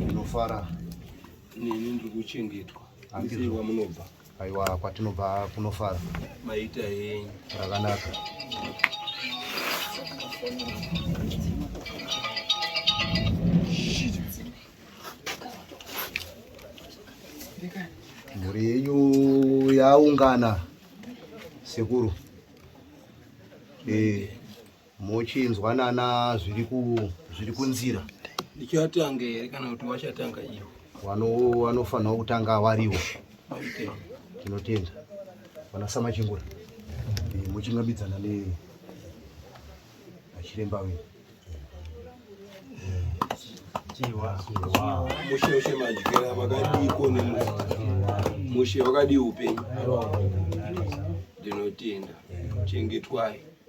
ndinofara neni ndiri kuchengetwa handizii kwamunobva aiwa kwatinobva kunofara maita henyu rakanaka mhuri yenyu yaungana sekuru eh mochinzwa nana zviri ku zviri kunzira ndichatanga here kana kuti wachatanga iwo wano wanofanirwa kutanga wariwo tinotenda vana samachingura eh, mochingambidzana ne achiremba wenyu mushe ushe madyira vakadii kone mushe wakadii upenyu ndinotenda chengetwai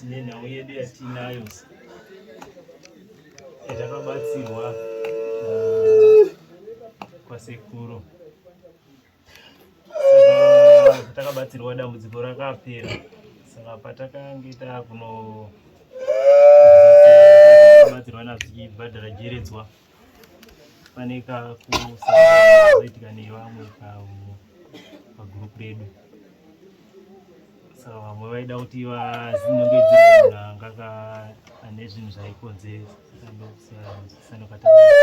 tine nhau yedu yatiinayo yatakabatsirwa uh, kwasekuru takabatsirwa dambudziko rakapera saka patakange taakuno batsirwa nazvichibhadhara jeredzwa so, pane kakuzoitika nevamwe pamwe pagroup redu saka vamwe vaida kuti vazinongedzirangaka ane zvinhu zvaikonzeresa saka ndokusiyana sanokataaaa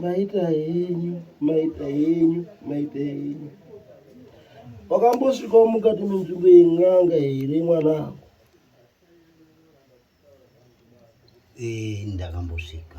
maita henyu maita henyu maita henyu wakambosvikawo mukati menzvimbo yen'anga here mwanangu ee ndakambosvika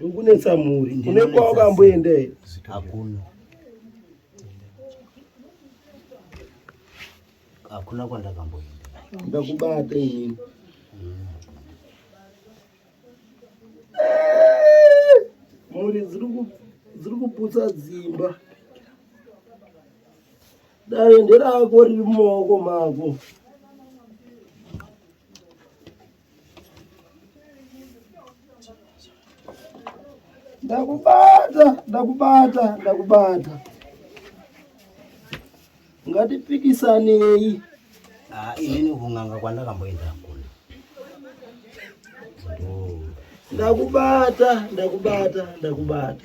Ukunetsa mhuri. Une kwawakamboenda here? Hakuna. Hakuna kwandakamboenda. Ndakubata inini. Mhuri dziri kuputsa dzimba. Dai nderako riri mumaoko mako. ndakubata ndakubata ndakubata ngatipikisanei ah, inini kun'anga kwandakamboenda kuna ndakubata ndakubata ndakubata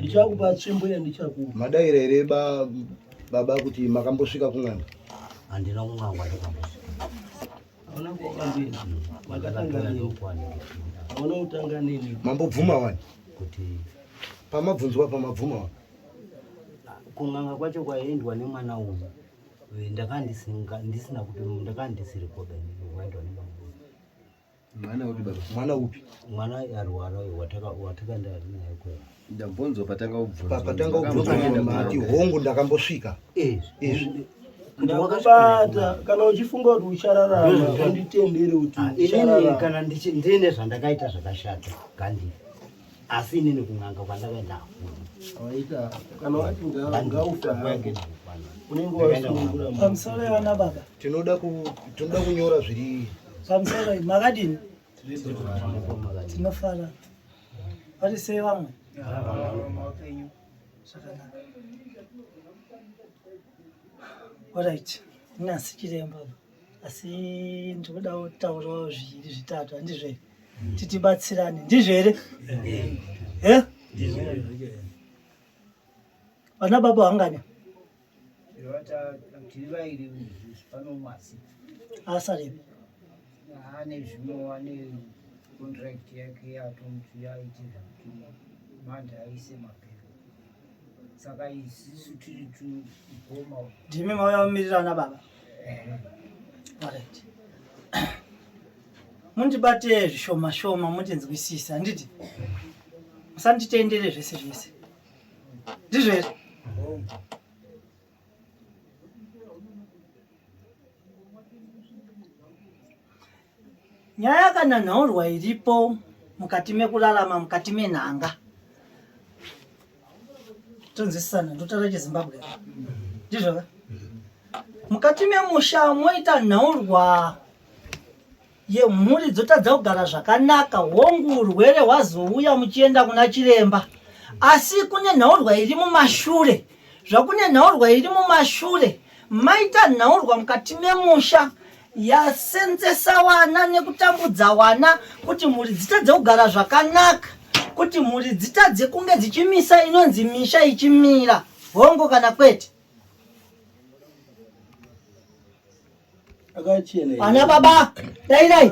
ndichakupa tsvimbo yandichakupa madaira here baba kuti makambosvika kun'anga handina kun'anga mambobvuma wani kuti pamabvunzwa pamabvuma wani kun'anga kwacho kwaendwa nemwana uyu ndakandisina kuti ndakandisiri koda waendwa nemwana Mwana upi baba? Mwana upi? Mwana arwara uyo wataka wataka ndari naye kwa. Ndambonzwa patanga ubvunza. Patanga ubvunza mati hongu ndakambosvika. Eh. Eh. Ndakubata kana uchifunga kuti uchararama unditendere kuti ah, uchararama. Kana ndiine zvandakaita zvakashata kandi. asi inini kun'anga kwandakaenda pamusoro yevana baba tinoda kunyora zviri pamusoro makadini tinofara vari sei vamwe zvakanaka orit nyasi chiremba asi ndikudawo kutaurawo zviviri zvitatu handizvo here titibatsirane ndizvo here e vana baba vangani asaripi ane zvimwe wane contract yake yatomti yaiti zvakutuma manje aise mapepa saka isisu tiri tugoma ndimi mauya mumirirana baba mundibate zvishoma shoma mundinzwisisa handiti musanditendere zvese zvese ndizvo here nyaya yakananhaurwa iripo mukati mekurarama mukati menhanga tonzwisisana ndotara chezimbabwe ndizvoka mukati memusha moita nhaurwa yemhuri dzotadza kugara zvakanaka hongu urwere hwazouya muchienda kuna chiremba asi kune nhaurwa iri mumashure zvakune nhaurwa iri mumashure maita nhaurwa mukati memusha yasenzesa wana nekutambudza wana kuti mhuri dzitadze kugara zvakanaka kuti mhuri dzitadze kunge dzichimisa inonzi misha ichimira hongo kana kwete Ana baba, dai dai.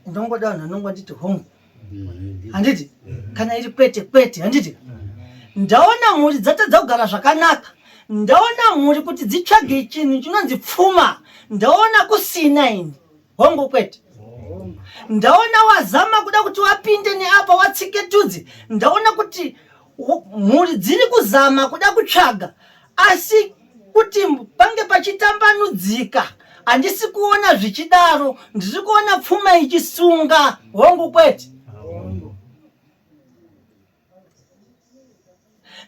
Ndongoda vanhu vanongo nditi home. Handiti? Kana iri kwete kwete, handiti? Ndaona mhuri dzatadza kugara zvakanaka. Ndaona mhuri kuti dzitsvage chinhu chinonzi pfuma. Ndaona kusina ini. hongu kwete ndaona wazama kuda kuti wapinde neapa watsike tudzi ndaona kuti mhuri dziri kuzama kuda kutsvaga asi kuti pange pachitambanudzika handisi kuona zvichidaro ndiri kuona pfuma ichisunga hongu kwete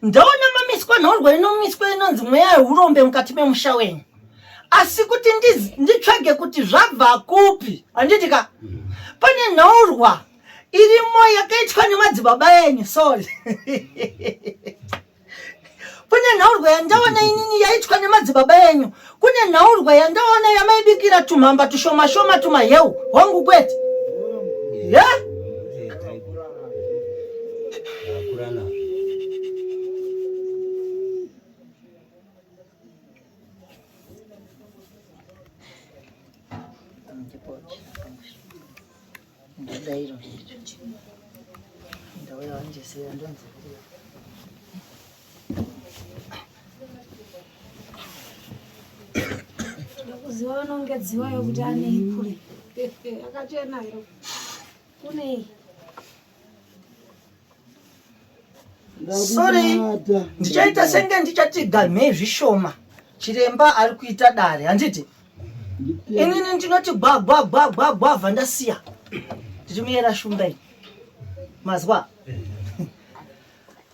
ndaona mamiswa nhorwa inomiswa inonzi mweya yeurombe mukati memusha wenyu asi kuti nditsvage kuti zvabva kupi handiti ka pane nhaurwa irimo yakaitwa nemadzibaba enyu sorry kune nhaurwa yandaona inini yaitwa nemadzibaba enyu kune nhaurwa yandaona yamaibikira tumhamba tushoma shoma tumaheu hwangu kwete ya Ndadairo. Ndauya wanje seya ndonzi kuya. Ndakuziwa vanongedziwa yokuti ane ipure. Akachena iro. Kunei? sorry ndichaita senge ndichati gamhei zvishoma chiremba ari kuita dare handiti inini ndinoti gwagwagwagwagwavha ndasiya ndiri muyera shumba iyi mazwa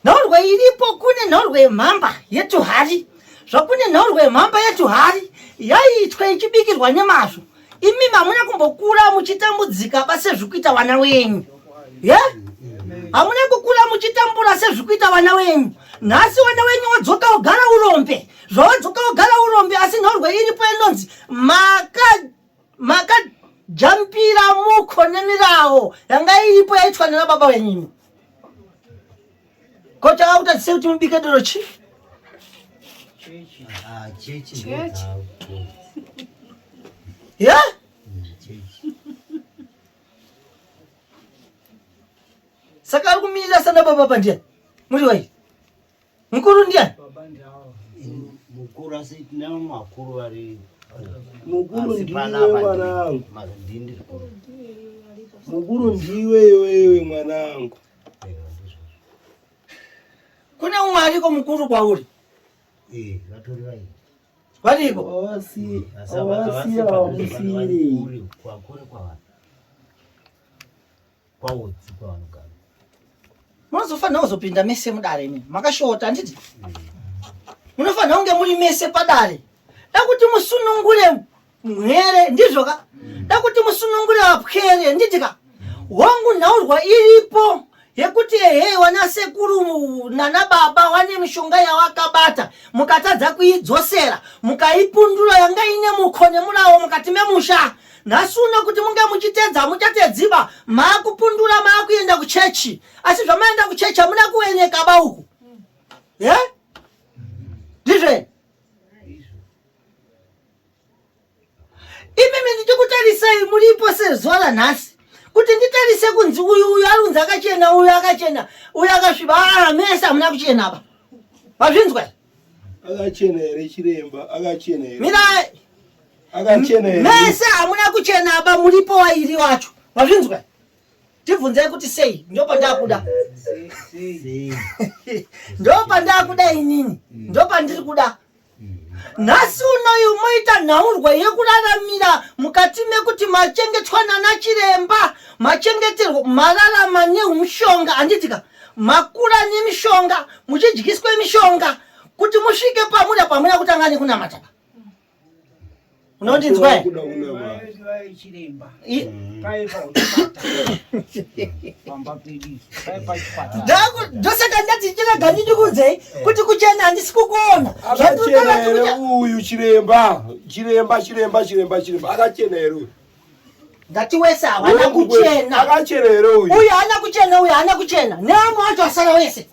nhorwe iripo kune nhorwe yemhamba yetuhari zvakune nhorwe yemhamba yetuhari yaiitwa ichibikirwa nemazvo imi hamuna kumbokura muchitambudzika ba sezvikuita vana wenyu ye hamuna kukura muchitambura sezvikuita vana wenyu nhasi vana wenyu wadzoka wogara urombe zvawadzoka wogara urombe asi nhorwe iripo inonzi maka maka jampira muko nemirawo yanga iripo yaitwa nena baba wenyini Ko chakakutadzisa kuti mubike doro chi? Ah, chechi. Chechi. Yeah? Saka ari kumirira sana baba baba ndiye. Muri wai. Mukuru ndiye. Baba ndiye. Mukuru asi tinawo makuru vari mukuru ndiwe mwanangu, mukuru ndiwe iwewe mwanangu. kune umwe ariko mukuru kwauri eh, variko munozofanira kuzopinda mese mudare imi makashota handiti eh. munofanira kunge muri mese padare dakuti musunungure mhere ndizvoka dakuti musunungure vapwere nditika wangu nhaurwa iripo yekuti ehe wana sekuru nana baba wane mishonga yawakabata mukatadza kuidzosera mukaipundura yanga ine mukho nemulawo mukati memusha nhasi uno kuti munge muchitedza muchatedziba maakupundura maakuenda kuchechi asi zvamaenda kuchechi hamuna kuweneka ba uku ye ndizveni imimi ndichikutarisai muripo sezuva ranhasi kuti nditarise kunzi uyu uyu ari kunzi akachena uyu akachena uyu akasviba aa ah, mese hamuna kuchena apa mazvinzwa akachena here chiremba akachena here mirai akachena here mese hamuna kuchena apa muripo wairi wacho mazvinzwa tibvunzai kuti sei ndopandakuda ndopandakuda inini ndopandiri kuda nhasi unoyu moita nhaurwa yekuraramira mukati mekuti machengetwa nana chiremba machengeterwo mararama nemushonga handitika makura nemishonga muchidyiswa mishonga kuti musvike pamuri pamuri kutanga nekunamata unondinzwa ndosaka ndati chirega ndindikuudzei kuti kuchena handisi kukuona zvatichena here uyu chiremba chiremba chiremba chiremba chiremba akachena here uyu ndati wese hawana kuchena akachena here uyu uyu haana kuchena uyu haana kuchena neamwe wacho asara wese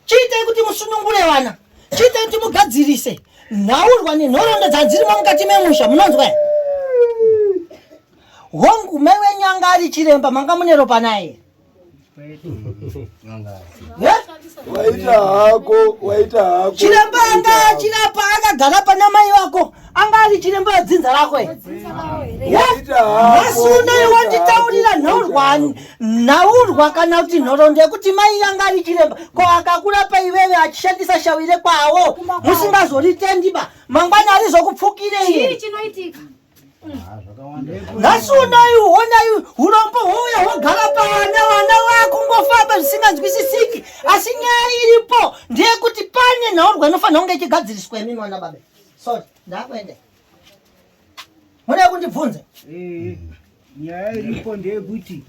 chiitai kuti musunungure vana chiitai kuti mugadzirise nhaurwa nenhoroondo dzadzirimo mukati memusha munonzwa hongu mai wenyu anga ari chiremba manga mune ropa naye waita hako waita hako chiremba anga achirapa akagara pana mai vako anga ari chiremba yedzinza rako nhasi unoyi wanditaurira nhaurwa kana kuti nhoroondo yekuti mai yanga ari chiremba ko akakurapa iveve achishandisa shawire kwawo musingazoritendiba mangwana arizokupfukirei nhasi unoyi honai urombo houya hogara pavana vana vakungofamba zvisinganzwisisiki asi nyaya iripo ndeyekuti pane nhaurwa inofanira kunge ichigadziriswa imi mwana babe Sorry, ndakuenda. Munoda kundibvunza? Eh. Nyaya iripo ndeyekuti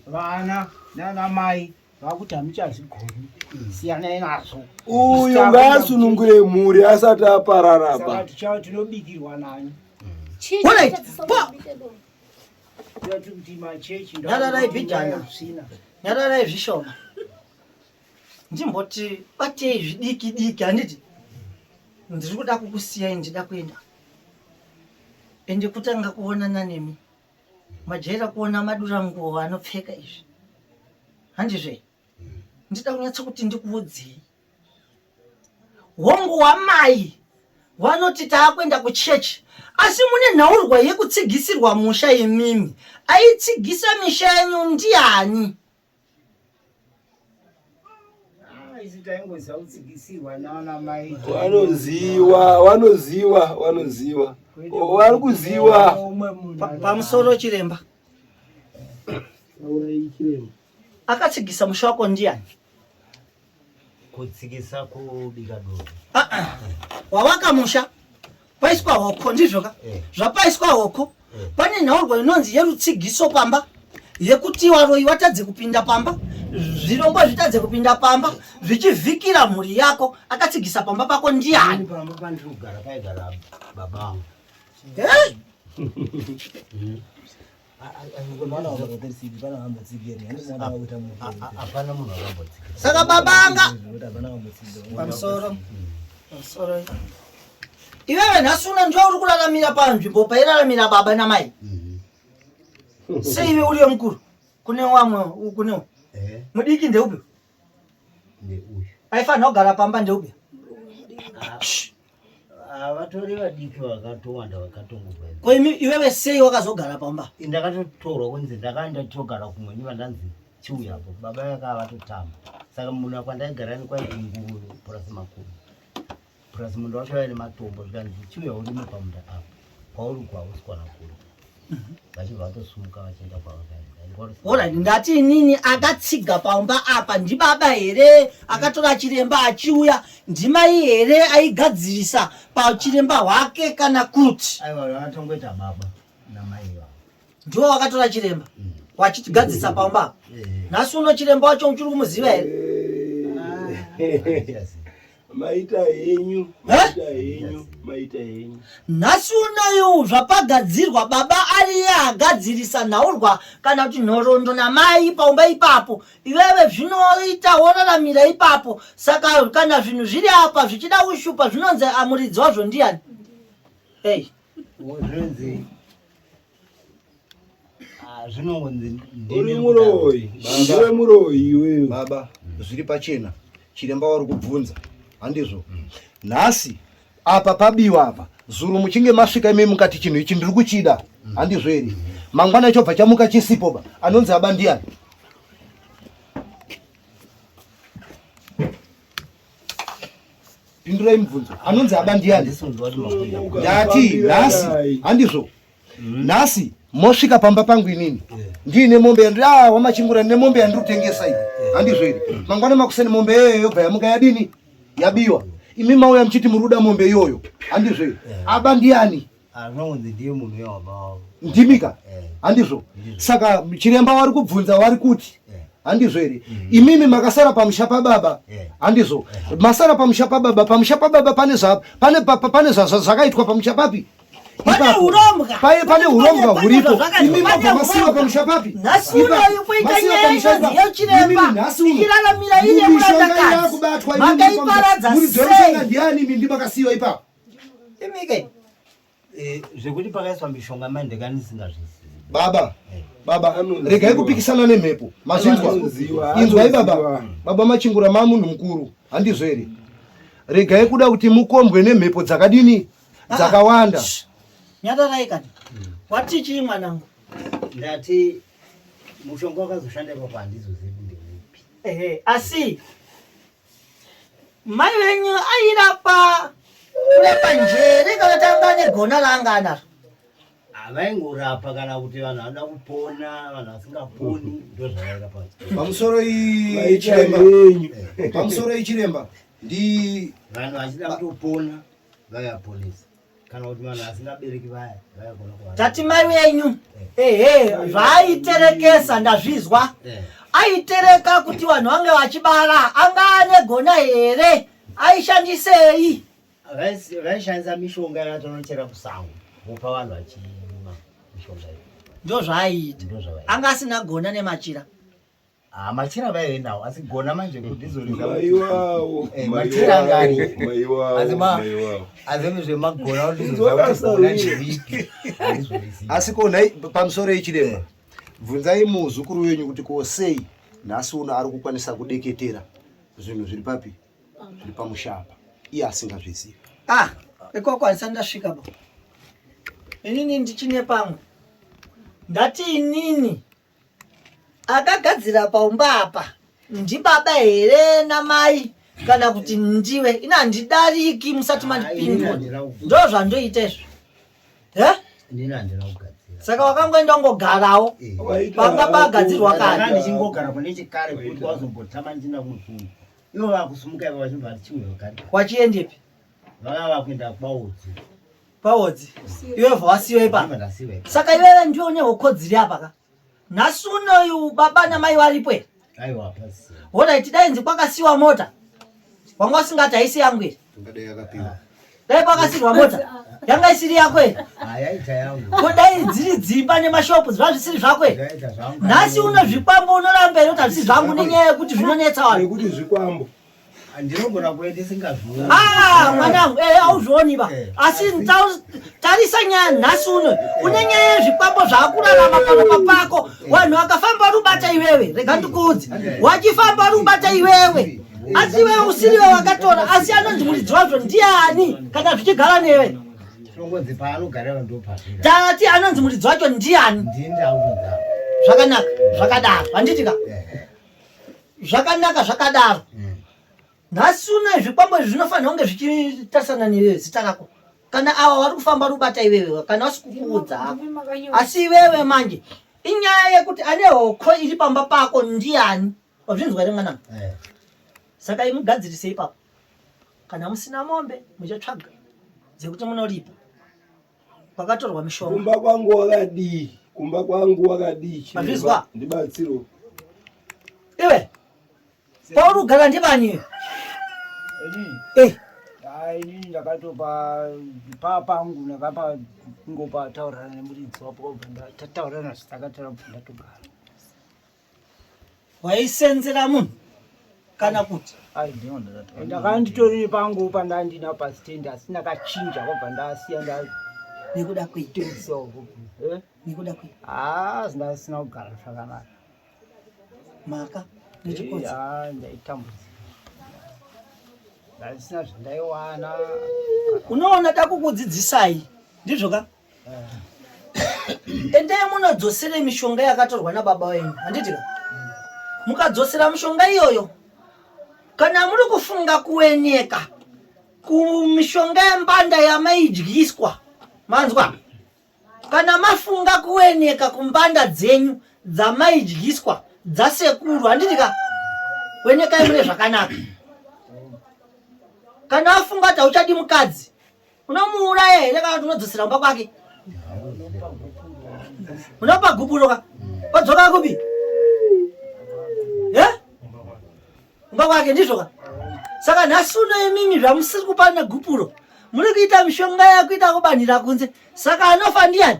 vana nana mai vakuti hamuchazvigoni. Siyanai nazvo. Uyu ngaasunungure mhuri asati aparara pa. Tichava tinobikirwa nani. Honai. Pa. Ndati kuti machechi. Nyararai bidhana. Nyararai zvishoma. ndimboti batei zvidiki diki handiti ndiri kuda kukusiyai ndida kuenda ende kutanga kuonana nemi majaira kuona madura nguvo anopfeka izvi handizve ndida kunyatsa kuti ndikuudzei hongu wamai vanoti taakuenda kuchechi asi mune nhaurwa yekutsigisirwa musha yemimi aitsigisa misha yenyu ndiani wanoziwa wanoziwa wanoziwa wari kuziwa pamusoro chiremba akatsigisa musha wako ndiani kutsikisa kubika dovi ah, ah. wavaka musha paiswa hoko ndizvoka eh. zvapaiswa hoko eh. pane nhaurwa inonzi yerutsigiso pamba yekuti varoyi vatadze kupinda pamba zvirongwa zvitadze kupinda pamba zvichivhikira mhuri yako akatsigisa pamba pako ndiani pamba pandiri kugara paigara babangu eh? saka babanga pamusoro pamusoro iwewe nhasi una ndiwe uri kuraramira panzvimbo pairaramira baba namai mhm. seiwe uriyo mukuru kune wamwe kunewo eh. mudiki ndeupi aifanira kugara pamba ndeupi havatori vadiki vakatowanda vakatongobva ko imi iwewe sei wakazogara pamba ndakatotorwa kunzi ndakaenda togara kumwe ndiva ndanzi chiuya apo baba yaka vatotamba saka munhu akwandaigara ni kwaiti nguru purasi makuru plus munda wacho waive nematombo zvikanzi chiuya urime pamunda apo kwauri uko hausi kwana kuri mhm. vachibva vatosumuka vachienda kwavakaendaorit ndati inini akatsiga pamba apa ndibaba here akatora chiremba achiuya ndimai here aigadzirisa pachiremba hwake kana kuti aiwa atongoita baba namai ndiwo wakatora chiremba wachitigadzisa pamba apo nhasi uno chiremba wacho uchiri kumuziva here maita henyu maita henyu maita henyu nhasi unoyu zvapagadzirwa baba ariye agadzirisa nhaurwa kana kuti nhorondo namai paumba ipapo iwewe zvinoita woraramira ipapo saka kana zvinhu zviri apa zvichida ushupa zvinonzi amuridzi wazvo ndiyani ei hey. Wozvenzi. Ah, zvinonzi uri muroyi. Ndiwe muroyi iwewe. Baba, zviri pachena. Chiremba wari kubvunza. Handizvo. Nhasi apa pabiwa apa. Zuru muchinge masvika imi mukati chinhu ichi ndiri kuchida. Handizvo ere? Mangwana chobva chamuka chisipo ba. Anonzi aba ndiani? pindurai mubvunzo anonzi aba ndiani ndati nhasi handizvo mm. nhasi mosvika pamba pangu inini ndiine mombe yandiri ah wamachingura ndine mombe yandiri kutengesa iyi handizvo iri mm. mangwana makuseni mombe iyoyo yobva yamuka yadini yabiwa imi mauya muchiti muri kuda mombe iyoyo handizvo iri aba ndiani Ah, anonzi ndiye munhu wehama wavo ndimika eh. handizvo saka chiremba wari kubvunza wari kuti eh. handizvo here mm-hmm. imimi makasara pamusha pababa eh. handizvo masara pamusha pababa pamusha pababa pane pane zvakaitwa pamusha papi pane hurombwa pane hurombwa huripo imimi mabva masiwa pamusha papi nhasi unoyu kuita nyaya inonzi yechiremba ichiraramira ine kuratakazi makaiparadza sei ndiani imimi ndimakasiwa ipapo imike eh, zvekuti pakaiswa mishonga mai ndekandisingazvizivi baba eh. baba regai kupikisana nemhepo mazvinzwa inzwai baba baba machingura maa munhu mukuru handizvo here regai kuda kuti mukombwe nemhepo dzakadini ah, dzakawanda nyatarai kani wati chii mwanangu ndati mushonga wakazoshandepa pandizozivi ndeupi asi Mai venyu airapa kurapa njere kana tanga ane gona laanga anaro. Avaingorapa kana kuti vanhu vanoda kupona, vanhu vasingaponi ndozvavairapa. Pamusoro iyi chiremba. Pamusoro iyi chiremba. Ndi vanhu vachida kutopona vaya police. kana kuti vanhu vasingabereki vaya vaigona kuva tati mai wenyu eh. ehe zvaayiterekesa ndazvizwa eh. aitereka kuti vanhu vange vachibara anga ane gona here aishandisei vaishandisa mishonga yatonochera kusango vopa vanhu vachima mishonga iyo ndozvaaiita anga asina gona nemachira Ah, machira vaive nawo asi gona manje kudizorizaaiwawo eh, machira angani asi zvemagona kudizorizaaipi asi ko nhai pamusoro yechirema bvunzai muzukuru wenyu kuti ko sei nhasi uno ari kukwanisa kudeketera zvinhu zviri papi zviri pamushapa iye asingazvizivi ah ikoko handisa ndasvika bo inini ndichine pamwe ndati inini akagadzira paumba apa ndibaba here namai kana kuti ndiwe ina handidariki musati mandipindwa ndo zvandoita izvo he saka wakangoenda ungogarawo panga pagadzirwa kawachiendepi vakava vakuenda kwaudzi Paodzi. Iwe vasiwe pa. Saka iwe ndio une hokodziri apa ka. Nhasi unoyu baba na mai varipo here? Aiwa pasi. Hona iti dai nzi kwakasiwa mota. Wanga usingati haisi yangu here? Tungadai yakapiwa. Dai kwakasirwa mota. Yanga isiri yako here? Hayaita yangu. Ko dai dziri dzimba nemashopu zviva zvisiri zvako here? Yaita zvangu. Nhasi unozvikwambo unoramba here kuti hazvisi zvangu nenyaya yekuti zvinonetsa vanhu. Nekuti zvikwambo. ndinogona kuenda isingazvioni ah, mwanangu eh, auzvioni ba eh, asi tarisa nyaya nhasi uno eh. une nyaya yezvikwambo zvaakurarama panopa pako vanhu vakafamba rubata iwewe rega ndikuudzi wachifamba rubata iwewe asi iwewe usiriwe wakatora asi anonzi muridzi wazvo ndiani kana zvichigara newe tati anonzi muridzi wacho ndiani zvakanaka zvakadaro handitika zvakanaka zvakadaro mm. nhasi uno zvikwambo izvi zvinofanira kunge zvichitarisana nezita rako kana ava vari kufamba rubata iwewe kana vasikukuudza hako asi iwewe manje inyaya yekuti ane hoko iri pamba pako ndiani wazvinzwa ri mwanangu eh. saka imugadzirise ipapo kana musina mombe muchatsvaga dzekuti munoripa kwakatorwa mishonga kumba kwangu wakadii kumba kwangu wakadii chizwa ndibatsiro iwe pauri kugara ndibani eh ini ndakatopa pa pangu ndakapa ngopa taurana nemuridzi wapo tataurana zvitakatara ndatogara waisenzera munhu kana kuti ndakanditori pangu pandandina pastand asi ndakachinja kwabva ndasiya nda nekuda kweinekuda kwei haa zindasina kugara zvakanaka maka nechikozi ndaitambudzika ndasina zvandaiwana unoona takukudzidzisai ndizvo ka endai munodzosere mishonga yakatorwa nababa wenyu handiti ka mukadzosera mishonga iyoyo kana muri kufunga kueneka kumishonga yembanda yamaidyiswa manzwa kana mafunga kueneka kumbanda dzenyu dzamaidyiswa dzasekuru handiti ka wenekai mune zvakanaka kana afunga kuti hauchadi mukadzi unomuuraya here kana kuti unodzosera kumba kwake unopa gupuro ka odzoka kupi e kumba kwake ndizvo ka saka nhasi uno imimi zvamusiri kupa negupuro muri kuita mishonga yakuita kubanhira kunze saka anofa ndiyani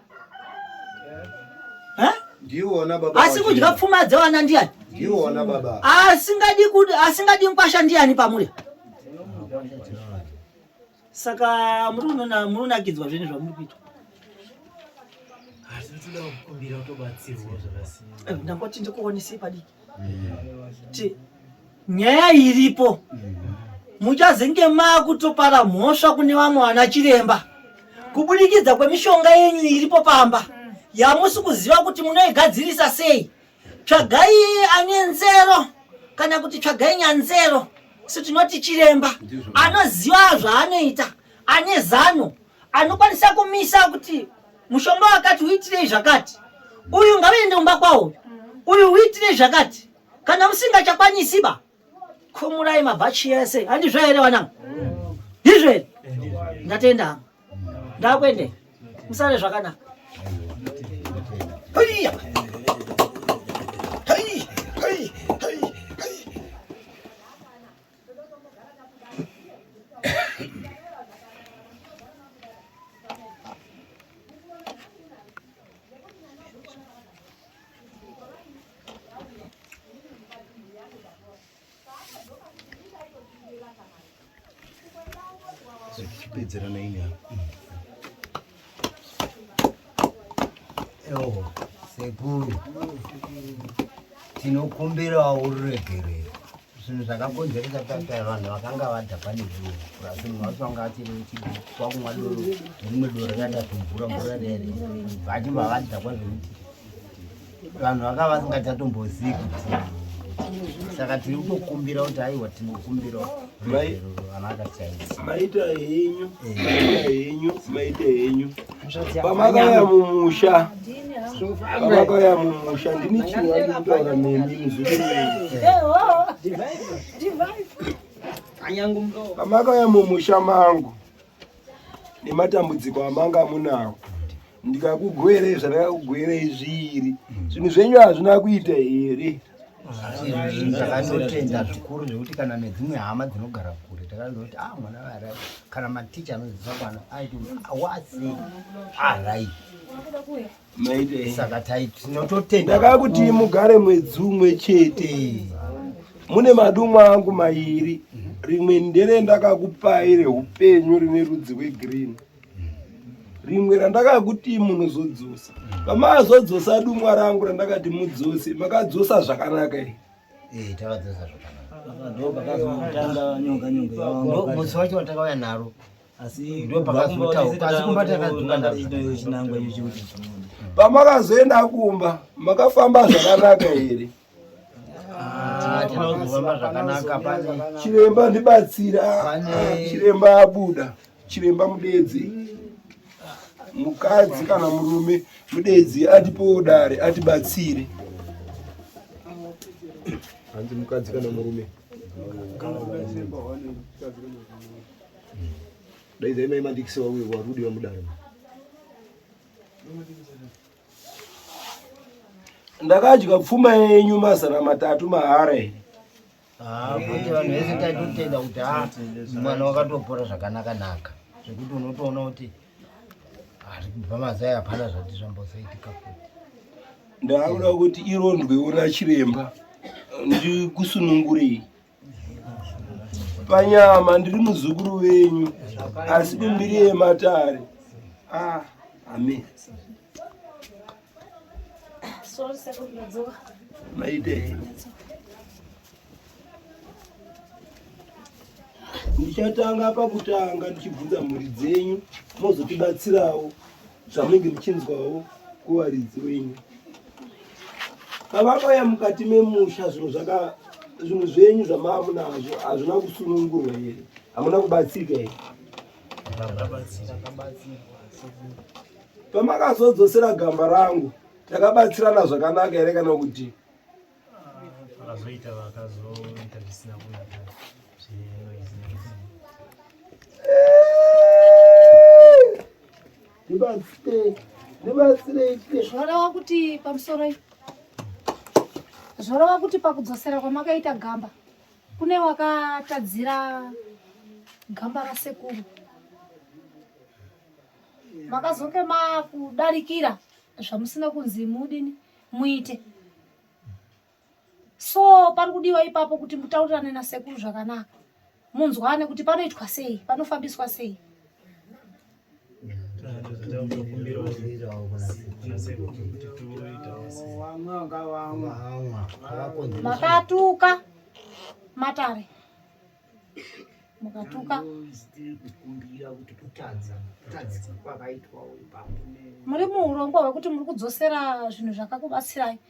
asi kudya pfuma dzevana ndiani asingadi kuti asingadi nkwasha ndiani pamuri saka munonakidzwa zvinhu zvamuri kuitwa eh, ndangoti ndikuonesei padiki nyaya iripo muchazenge makutopara mhosva kune vamwe vana chiremba kubudikidza kwemishonga yenyu iripo pamba yamusi kuziva kuti munoigadzirisa sei tsvagai ane nzero kana kuti tsvagai nyanzero so tinoti chiremba anoziva zvaanoita ane zano anokwanisa kumisa kuti mushonga wakati uitirei zvakati uyu ngavaende kumba kwawo uyu uitirei zvakati kana musingachakwanisi ba khumurai mabhachi yese handizvo here vanangu ndizvo here ndatenda hangu ndakuende musare zvakanaka zvatichipedzerana ini ewo sekuru tinokumbirawo ruregerero zvinhu zvakakonzeresa kutata vanhu vakanga vadhakwa nezvinhu asi munhu wacho wanga achiri kwakumwa doro rimwe doro rakaita zvimvura mvura rere vachibva vadhakwa zvekuti vanhu vakava vasingachatombozivi kuti saka tiri kutokumbira kuti aiwa tinokumbira vana akachaisa maita henyu maita henyu maita henyu pamakauya mumusha pamakauya mumusha ndini chinhu andikutaura nemi pamakauya mumusha mangu nematambudziko amanga amunawo ndikakugwerei zvandakakugwerei zviri zvinhu zvenyu hazvina kuita here ndakatotenda zvikuru zvekuti kana nedzimwe hama dzinogara kure takaziva kuti ah mwana vara kana maticha anodzidzisa kwana aiti awasi arai saka tinototenda ndakaa kuti mugare mwedzi umwe chete mune madumwe angu mairi rimwe ndere ndakakupai reupenyu rine rudzi rwegreen rimwe randakakuti munozodzosa pamazodzosa dumwa rangu randakati mudzose makadzosa zvakanaka i eh, takadzosa zvakanakamusi wacho watakauya naro pamakazoenda kumba makafamba zvakanaka here chiremba ndibatsira chiremba abuda chiremba mudedzi mukadzi kana murume mudedzi atipowo dare atibatsire hanzi mukadzi kana murume daidzai mai mandikisi wauyo warudi vamudare ndakadya pfuma yenyu mazana matatu mahara here ah, kuti vanhu vese taitotenda kuti ha ah, mwana wakatopora zvakanaka naka zvekuti unotoona kuti ari kubva mazai hapana zvati zvambosaitika futi ndaakuda kuti irondwewo nachiremba ndikusunungurei panyama ndiri muzukuru wenyu asi kumbiri yematare ah, amen maitei ndichatanga pakutanga ndichibvunza mhuri dzenyu mozotibatsirawo zvamunenge muchinzwawo kuvaridzi wenyu pavakauya mukati memusha zvinhu zvaka zvinhu zvenyu zvamaamu nazvo hazvina kusunungurwa here hamuna kubatsirika here pamakazodzosera gamba rangu takabatsirana zvakanaka here kana kuti zvoreva kuti pamusoro zvoreva kuti pakudzosera kwamakaita gamba kune wakatadzira gamba rasekuru makazonge makudarikira zvamusina kunzi mudini muite so pari kudiwa ipapo kuti mutaurirane nasekuru zvakanaka munzwane kuti panoitwa sei panofambiswa sei makatuka matare mukatuka muri muurongwa hwekuti muri kudzosera zvinhu zvakakubatsirai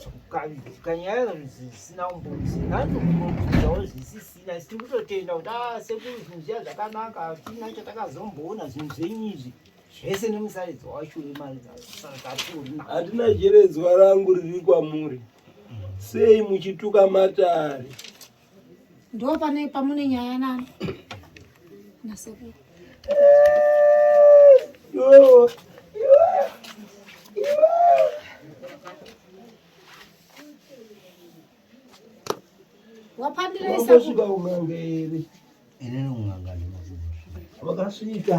zvekukavidzika nyaya zvisina umbonzi natokumbobvunzawo zvisisina isi tiri kutotenda kuti a ah, sekuru zvinhu zviya zvakanaka hatina chatakazomboona zvinhu zvenyu izvi zvese nemusaridzo wacho hatina jeredzwa rangu riri kwamuri sei muchituka matare ndopane pamune nyaya nani nasekuru wapandireisasvika un'anga here inini un'anga ndimakuva wakasvika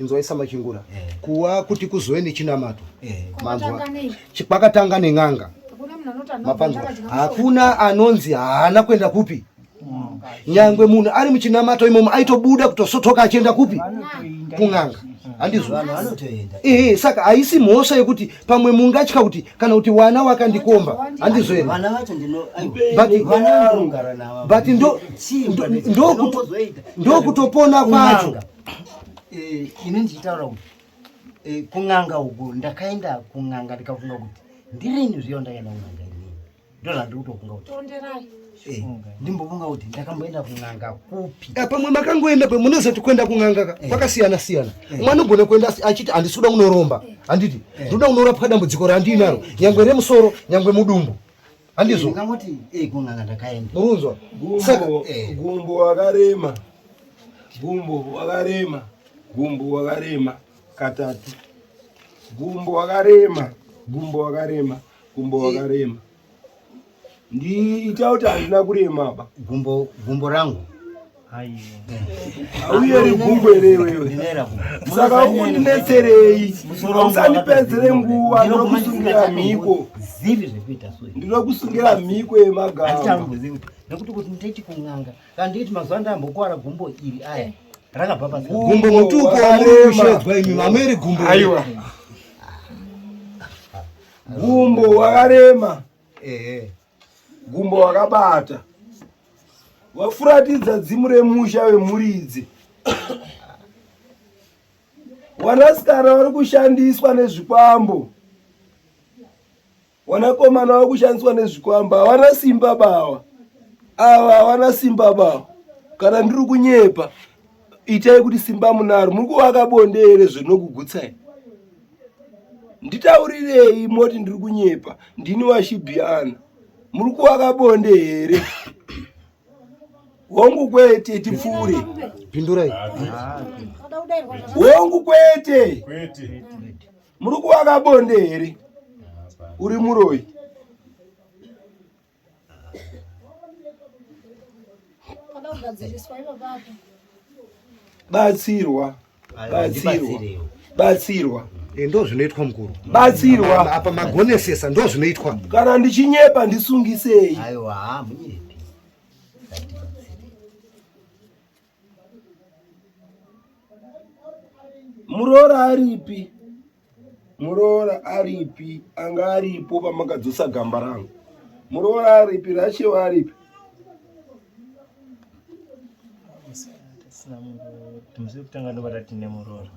inzwai samachingura eh. kuwa kuti kuzove nechinamato eh. manzwa kwakatanga nen'anga mapanzwa hakuna anonzi haana kuenda kupi mm. nyangwe munhu ari muchinamato imomo aitobuda kutosotoka achienda kupi kun'anga handizoehe saka haisi mhosva yekuti pamwe mungatya kuti kana kuti wana wakandikomba handizoere but ndokutopona kwacho eh, ini ndichitaura kuti eh, kun'anga uku ndakaenda kun'anga ndikafunga kuti ndirini zviyo ndakaenda kun'anga inini ndo zvandiri kutofunga kuti eh, ndimbofunga kuti ndakamboenda kun'anga kupi pamwe makangoenda pe munozoti kuenda kun'anga kwakasiyana siyana umwe anogona kuenda achiti handisi kuda kunoromba handiti ndinoda kunorapwa dambudziko randiinaro nyangwe remusoro nyangwe mudumbu handizvo ndingamoti eh kunanga ndakaenda urunzwa saka eh. gumbo wakarema gumbo wakarema gumbo wakarema katatu gumbo wakarema gumbo wakarema gumbo eh. wakarema ndiita kuti handina kurema apa gumbo gumbo rangu auyeri gungwe rewe saka undinetserei usandipedzere nguva ndinokusungira mhiko ndinokusungira mhiko yemagama nekuti kuti nditi kun'anga kana ndikiti mazuva ndambokuwara gumbo iri aya eh. rakabva pagumbo mutuko wamushedzwa imi mameri gumbo aiwa gumbo wakarema ehe gumbo wakabata wafuratidza dzimu remusha wemuridzi wanasikana vari kushandiswa nezvikwambo wanakomana vari kushandiswa nezvikwambo havana simba bawa ava havana simba bawa kana ndiri kunyepa itai kuti simba munaro muri kuvaka bonde here zvinokugutsai nditaurirei moti ndiri kunyepa ndini washibhiana muri kuvaka bonde here hongu kwete tipfuure pindurai hongu kwete muri kuvaka bonde here uri muroyi batsirwa batsirwa batsirwa eh, ndo zvinoitwa mukuru batsirwa apa magonesesa ndo zvinoitwa kana ndichinyepa ndisungisei aiwa munyepi muroora aripi muroora aripi anga aripo pamakadzosa gamba rangu muroora aripi rachewa aripi timusi kutanga ndobata tine muroora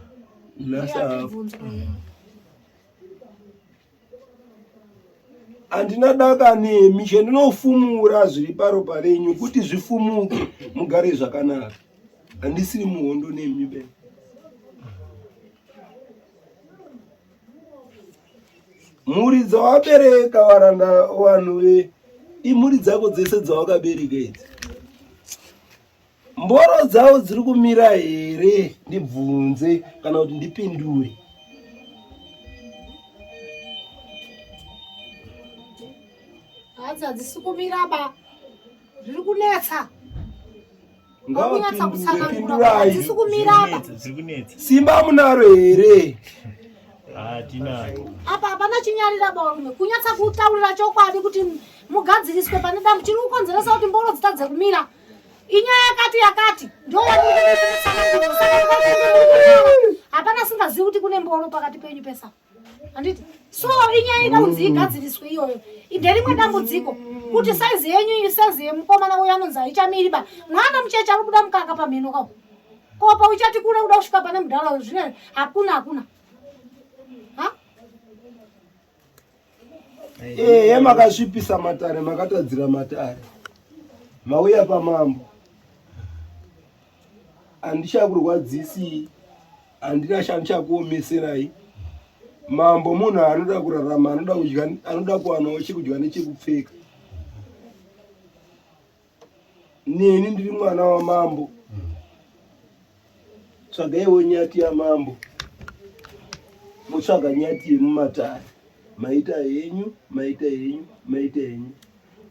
handina daka nemi chendinofumura zviri paropa renyu kuti zvifumuke mugare zvakanaka handisiri muhondo nemi be mhuri dzawabereka varanda vanhu ve imhuri dzako dzese dzawakabereka idzi mboro dzavo dziri kumira here ndibvunze kana kuti ndipindure hadzi hadzisi kumira ba zviri kunetsa ngavapindureadzisi kumira ba simba munaro here apa hapana chinyarira barume kunyatsa kutaurira chokwadi kuti mugadziriswe pane dambo chiri kukonzeresa kuti mboro dzitadze kumira inyaya yakati yakati hapana singazivi kuti kune mboro pakati penyu pesa handiti so inyaya ida kunzi igadziriswe iyoyo nderimwe dambudziko kuti saizi yenyu iyi saizi yemukomana uyo anonzi haichamiri ba mwana mucheche ari kuda mukaka pamheno kao kopa uchati kule uda kusvika pane mudhara uyu zvine hakuna hakuna Ehe eh, makasvipisa matare makatadzira matare mauya pamambo handichakurwadzisi handina chandichakuomeserai mambo munhu anoda kurarama anoda kudya anoda kuwanawo chekudya nechekupfeka neni ndiri mwana wamambo tsvagaiwo nyati yamambo motsvaga nyati yemumatare maita henyu maita henyu maita henyu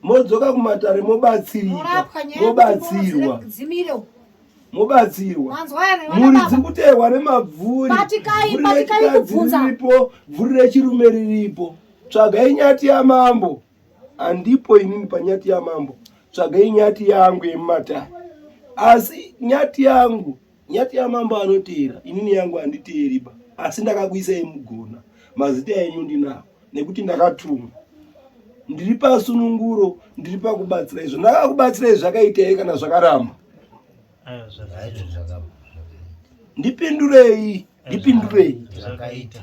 modzoka kumatare mobatsirika mobatsirwa mobatsirwa mhuri dziri kuteerwa nemabvuri vhuri rechirume riripo tsvagai nyati yamambo handipo inini panyati yamambo tsvagai nyati yangu yemumatare asi nyati yangu nyati yamambo anoteera inini yangu handiteeriba asi ndakakuisa yemugona mazita enyu ndinawo nekuti ndakatumwa ndiri pasununguro ndiri pakubatsira izvo ndakakubatsira izvi zvakaita here kana zvakaramba ndipindurei ndipindurei zvakaita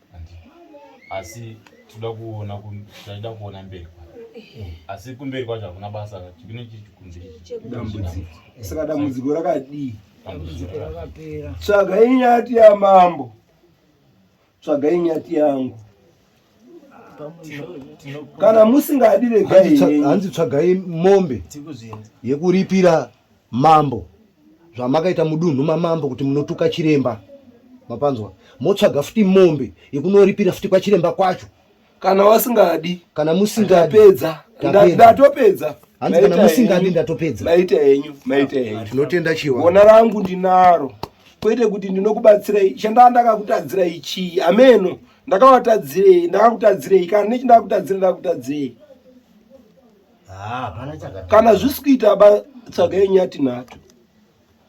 asi tinoda kuona taida kuona mberi asi kumberi kwacho hakuna basa chikune chikunzisaka dambudziko rakadii tsvagai nyati yamambo tsvagai nyati yangu kana musingadi regai hanzi tsvagai mombe yekuripira Mambo zvamakaita mudunhu mamambo kuti munotuka chiremba mapanzwa motsvaga futi mombe yekunoripira futi kwachiremba kwacho kana wasingadi kana musingadi ndatopedza hanzi kana musingadi ndatopedza maita henyu maita henyu ah, tinotenda chiwa gona rangu ndinaro kwete kuti ndinokubatsirai chandaa ndakakutadzirai chii ameno ndakawatadzirei ndakakutadzirei kana nechindakutadzira ndakutadzirei Ah, kana zvisi kuita ba tsvagai nyati nato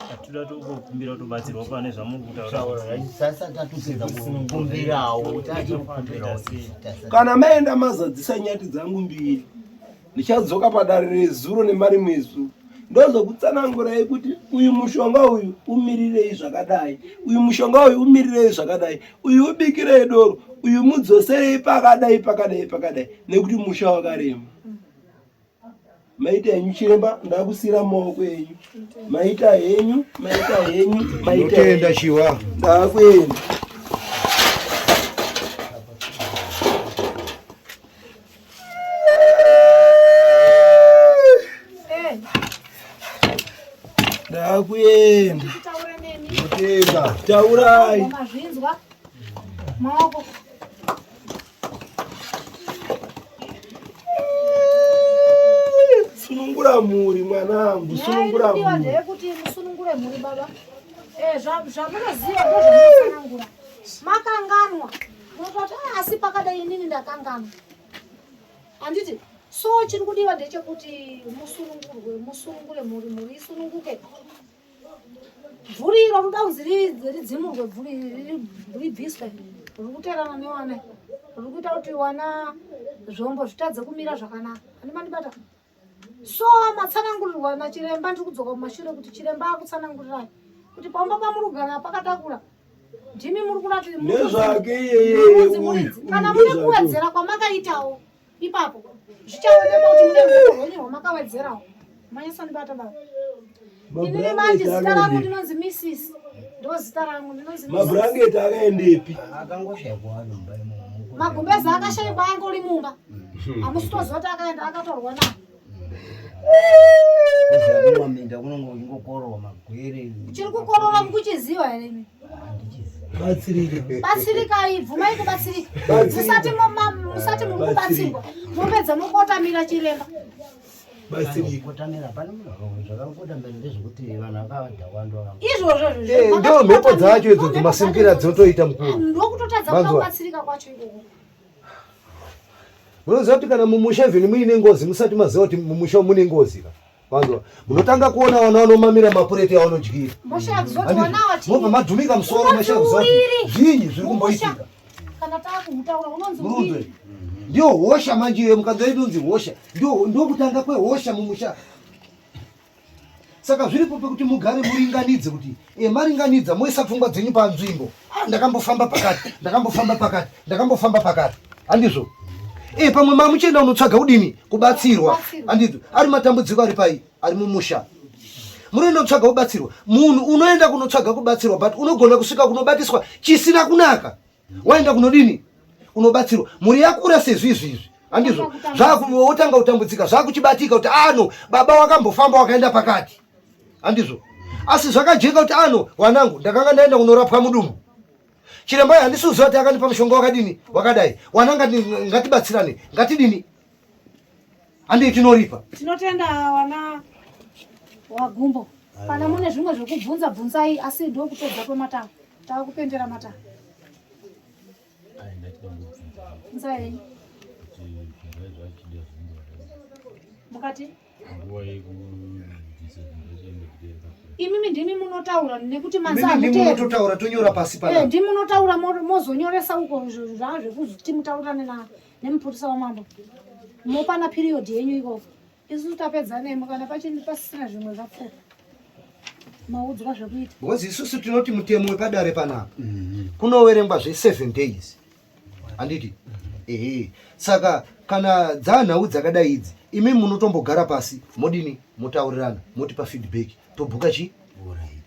tatoda tokumbira tobatsirwa pane zvamurikutaurakana maenda mazadzisa nyati dzangu mbiri ndichadzoka padare rezuro nemari mwezu ndozokutsanangurai kuti uyu mushonga uyu umirirei zvakadai uyu mushonga uyu umirirei zvakadai uyu ubikirei doro uyu mudzoserei pakadai pakadai pakadai nekuti musha wakarema maita henyu chiremba ndakusira maoko enyu maita henyu maita henyu maitaenda chiwa ndakuenda ndakuenda taurai maoko Sunungura mhuri mwanangu, sunungura mhuri. Kuti musunungure mhuri baba. Eh, zvamunoziva ndozvamunosanangura. Makanganwa. Mototi ah, asi pakadai inini ndakanganwa. Handiti so chiri kudiwa ndechekuti musunungurwe, musunungure mhuri, mhuri isununguke. bvuri iro rinoda kunzi ridzimurwe bvuri ribviswe riri kuterana newana riri kuita kuti wana zvombo zvitadze kumira zvakanaka ani mandibata so matsanangurirwa nachiremba ndiri kudzoka kumashure kuti chiremba akutsanangurirai kuti pamba pamuri kugara pakatakura ndimi muri kurati nezvake iyeyeye uyu kana mune kuwedzera kwamakaitawo ipapo zvichaonekwa kuti mune rudo rwenyu rwamakawedzerawo manyasandibata baba inini manje zita rangu ndinonzi missis ndo zita rangu ndinonzi mabrangeti akaendepi magumbezi akashaikwa angu uri mumba hamusitoziva kuti akaenda akatorwa nani kumaminda kunonge uchingokororwa magwere chiri kukorora mukuchiziva here imi batsirikai bvumai kubatsirika musati musati muri kubatsirwa mopedza mokotamira chiremba izvozvondomhepo dzacho idzo dzomasimbira dzinotoita mukuru ndokutotadza kubatsirika kwacho ikoko Munoziva kuti kana mumusha even muine ngozi musati maziva kuti mumusha mune ngozi ka. Vanzwa. Munotanga kuona vana vanomamira mapureti avanodyira. Mobva madhumika musoro mashakuziva kuti zvinyi zviri kumboitika. Kana taakutaura unonzi murunzwe. Ndiyo hosha manje iyo mukanzwa inonzi hosha. Ndiyo ndokutanga kwehosha mumusha. saka zviri kupi kuti mugare muringanidze kuti e, maringanidza moisa pfungwa dzenyu panzvimbo ah, ndakambofamba pakati ndakambofamba pakati ndakambofamba pakati handizvo e, pamwe mamuchienda unotsvaga kudini kubatsirwa handizvo ari matambudziko ari pai ari mumusha munoenda kutsvaga kubatsirwa munhu unoenda kunotsvaga kubatsirwa but unogona kusvika kunobatiswa chisina kunaka waenda kunodini unobatsirwa mhuri yakura sezvizvizvi andizvo zvakuvotanga kutambudzika zvakuchibatika kuti ano ah, baba wakambofamba wakaenda pakati andizvo asi zvakajeka kuti ano ah, wanangu ndakanga ndaenda kunorapwa mudumbu chiremba handisi uziva kuti akandipa mushonga wakadini wakadai wananga ngatibatsirane ngatidini Andi tinoripa. Tinotenda wana wagumbo. Kana mune zvimwe zvekubvunza bvunzai asi ndokutodza kwematanga. Tava kupendera matanga. Bvunzai. Mukati? imimi ndimi munotaura nekuti manzatotaura tonyora pasi pa eh, ndimi munotaura mozonyoresa uko zvaa zvekuti mutaurirane navo nemupurisa wamambo mopana period yenyu ikoko isu tapedza nemo kana pachini pasisina zvimwe zvapfuura maudzwa zvekuita because isusu tinoti mutemo wepadare panapa mhm. kunoverengwa zveseven days handiti ehe saka kana dzanhau dzakadai idzi imi munotombogara pasi modini motaurirana motipa feedback tobhuka chii